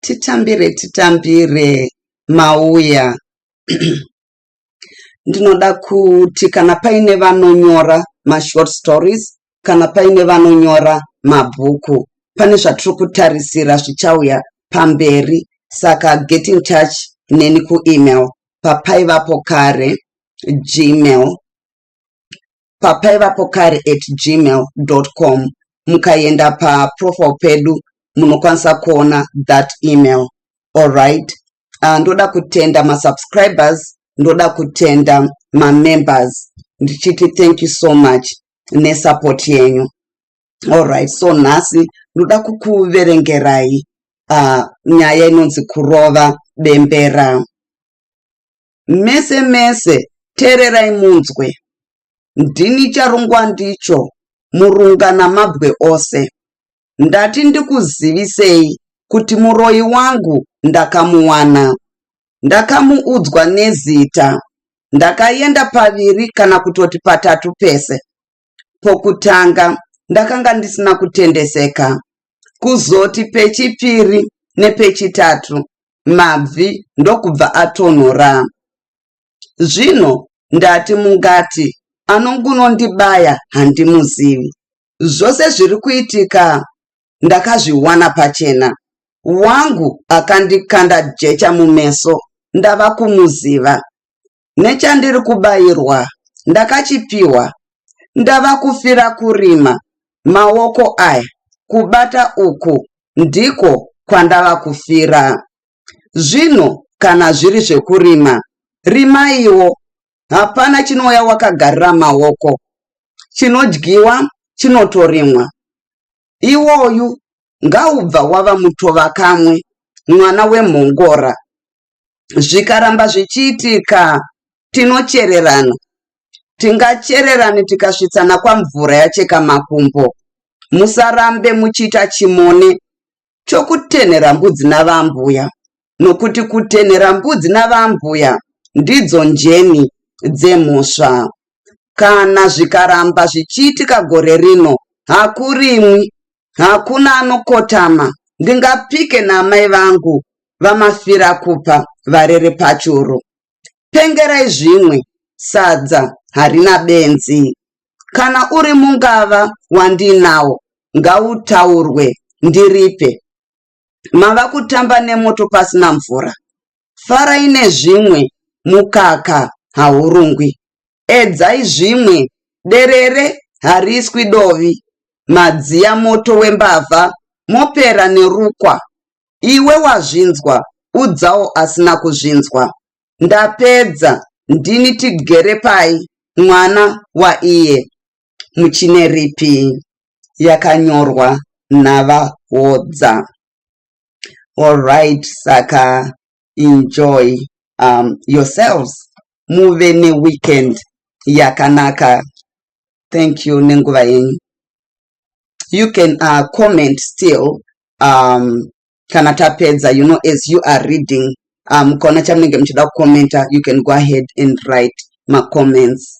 titambire titambire mauya ndinoda kuti kana paine vanonyora mashort stories kana paine vanonyora mabhuku pane zvatiri kutarisira zvichauya pamberi saka get in touch neni kuemail papaivapo kare gmail papaivapokare at gmail com mukaenda paprofile pedu munokwanisa kuona that email allright uh, ah, ndoda kutenda masubscribers ndoda kutenda mamembers ndichiti thank you so much nesupport yenyu allright so nhasi ndoda kukuverengerai uh, nyaya inonzi kurova bembera Mese mese tererai munzwe. Ndini charungwa ndicho murunga namabwe ose. Ndati ndikuzivisei kuti muroyi wangu ndakamuwana. Ndakamuudzwa nezita. Ndakaenda paviri kana kutoti patatu pese. Pokutanga ndakanga ndisina kutendeseka. Kuzoti pechipiri nepechitatu mabvi ndokubva atonhora. Zvino ndati mungati anongunondibaya handimuzivi. Zvose zviri kuitika ndakazviwana pachena. Wangu akandikanda jecha mumeso ndava kumuziva. nechandiri kubairwa ndakachipiwa ndava kufira kurima maoko aya kubata uku ndiko kwandava kufira zvino kana zviri zvekurima rimaiwo hapana chinouya wakagarira maoko chinodyiwa chinotorimwa iwoyu ngaubva wava mutova kamwe mwana wemhongora zvikaramba zvichiitika tinochererana tingachererani tikasvitsana kwamvura yacheka makumbo musarambe muchiita chimone chokutenhera mbudzi navambuya nokuti kutenhera mbudzi navambuya ndidzo njeni dzemhosva kana zvikaramba zvichiitika gore rino hakurimwi Hakuna anokotama ndingapike naamai vangu vamafira kupa varere pachuru. Pengerai zvimwe sadza harina benzi. Kana uri mungava wandiinawo ngautaurwe ndiripe. mava kutamba nemoto pasina mvura farai nezvimwe mukaka haurungwi edzai zvimwe derere hariswi dovi madziya moto wembavha mopera nerukwa iwe wazvinzwa udzawo asina kuzvinzwa ndapedza ndini tigere pai mwana waiye muChineripi yakanyorwa naVaHodza. Alright, saka enjoy um, yourselves muve neweekend yakanaka. Thank you nenguva yenyu. You can uh, comment still um, kana tapedza you know as you are reading um, mukaona chamunenge muchida kucomenta you can go ahead and write macomments